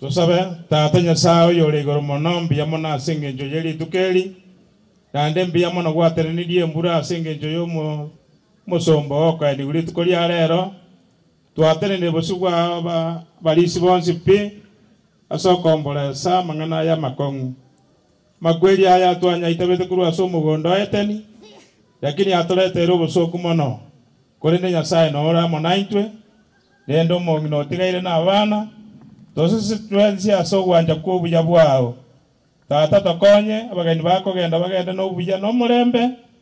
Tosabe. Tata Nyasae oyore igoro mono, mbuya mono ase engencho ye rituko eri, naende mbuya mono gwatenenirie embura ase engencho y'omo- omosomba oo okaenigwa rituko ria reero. Twatenenire bosio bwa aba- abarisi bonsi pi, ase okomboresa amang'ana aya amakong'u. Makweri aya twanyaitebete korwa ase omogondo o Eteni, lakini atoreteire obosooku mono. Korende Nyasae nore amo naintwe, rende omong'ina otigaire nabana, toseseti twensi ase ogwancha kw'obuya bwao. Tata, tokonye abageni bakogenda bagende nobuya nomorembe,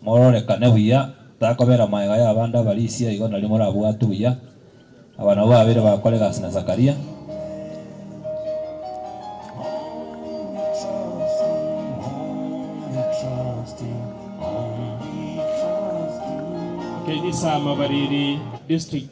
Mororekane buya, takobera magega y'abande abarisia igo nari morabwatwe buya. Aba nabwo babere ba Kore gasi na Zakaria. Ekenyisaamabariri, District.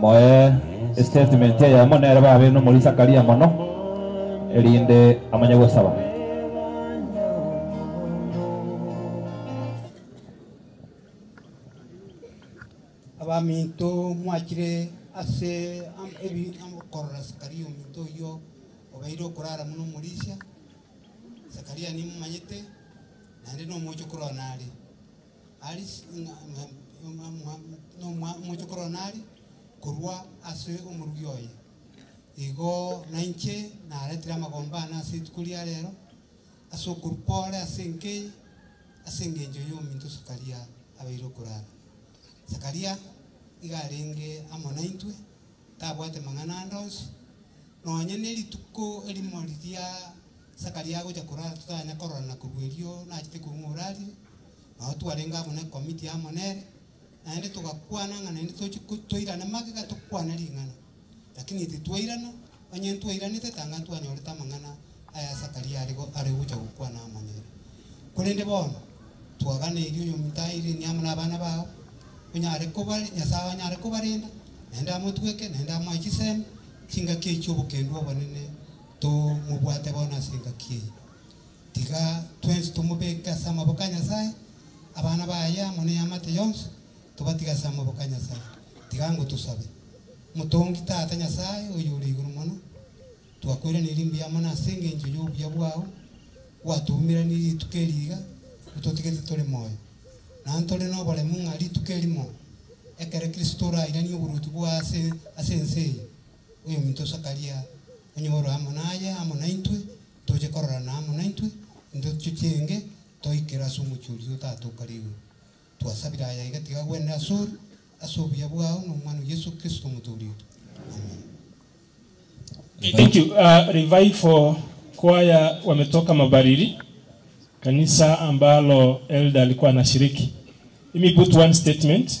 Moe estatement eyemo nere babe nomori Zakaria mono, erinde amanye gosaba. Abaminto mwachire ase am- ebi- am- okorora Zakaria ominto oyio obeire okorara buna omorisia. Zakaria nimomanyete, naende nomoche korwa nare. Aris ng'a nomochokoro one are korwa ase omorugi oye. Igo nainche naretire amagomba aane ase rituko ria reero, ase okoruka ore ase enka eye, ase engencho y'ominto Sakaria abeire okorara. Sakaria iga arenge amo naintwe, tabwate mang'ana ande onsi, nonya nerituko erimo riria Zakaria agocha korara totanya korora na korwa erio nachete korwa ng'a orarire, nao twarenge amo ne committee amo nere, naende togakwana ng'a naende toche toirane magega tokwane ring'ana, lakini titwairana, onye ntwairanete tanga ntwanyorete amang'ana aya Zakaria are are gocha gokwana amo nere. Korende bono twagana erio oyominto airenie amo nabana bao, onyare koba Nyasae onyare kobarenda, naende amotweke, naende amoe chisemi, chingaki echio obokendwa obonene, Tomobwate bono ase engaki eye. Tiga twensi tomobeke ase amaboko a Nyasae, abana baye amo neamate yonsi tobatige ase amaboko a Nyasae. Tiga ngotosabe, Motongi Tata Nyasae oyore igoro mono, twakoiraneiri mbuya mono ase engencho y'obuya bwao, gwatoumeranirie rituko eri iga ototigete tore moyo. Na ntore noboremu ng'a rituko erimo ekero Kristo orairanie oboruoti bwaye ase ense eye, Oyominto Sakaria, onye ore amo naye amo naintwe, toche kororana amo naintwe, intwe tochienge toikere ase omochie oria otato o kare igoro. Twasabire aya iga tiga gwenere asore, ase obuya bwao na Omwana o Yeso Kristo Omotooria oito. Amen. Thank you uh, Revive for kwaya wametoka mabariri kanisa ambalo elderly kwa nashiriki imi put one statement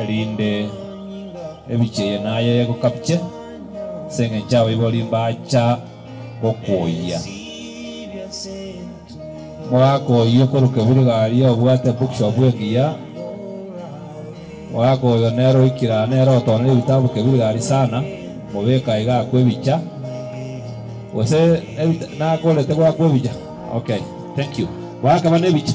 erinde ebiche eye naye egokabiche, ase engencho abaibori mbacha gokoyia. Mogakoyia okoruka ebirigaria obwate ebookshop engiya, mogakoyia one nere oikire aa nere otoonire ebitabu bike ebirigaria sana, mobeke aiga akwe ebicha, gose ebita- nakorete gwakwa ebicha? Okay, thank you. Gwakaba nebicha?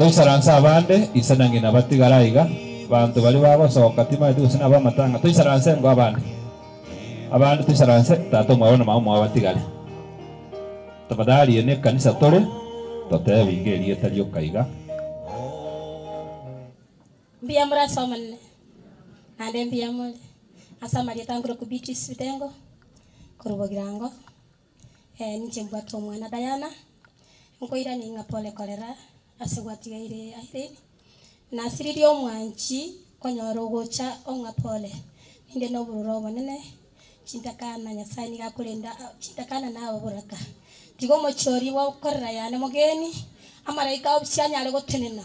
Toisaranse abande, ise na ng'ina batigare aiga, abanto baria bagosoka tibaeti gose nabo amatang'a, toisaranse engo abande, abande toisaranse tata omwabo na mama omwabo batigare. Tafadhali eye nekanisa tore, totebi iga erieta rioka iga. Mbuya more ase Omonene, naende mbuya more ase amarieta ankore okwo Beatrice Bitengo korwa Bogirango. Eh, ninche mbwate omwana Diana, nkoirania ng'a pole korera ase gwatigeire Irene. Nasiririe omwanchi konyora ogocha ong'a pole, ninde nobororo obonene, chintakana Nyasaye nigo akorenda a- chintakana naye oboraka. Tiga omochie oria bwa okorera yane omogeni, amaraika obosie anyare gotenena.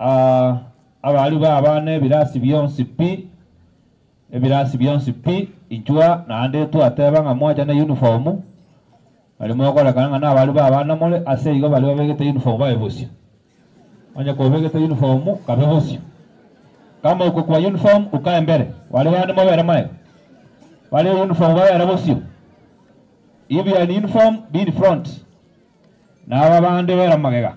Aa abari baba nebirasi bionsi pi, ebirasi bionsi pi, inchwa naende twateba ng'a mwachane uniform, aria mokorekana ng'a nabari baba namore, ase igo baria babegete uniform babe bosio. Onye kobegete uniform kabe bosio. Kama okokwa uniform ukae mbere, baria bande mobere magega, baria e uniform babere bosio. If you are in uniform, be in front. Naba bande bera magega.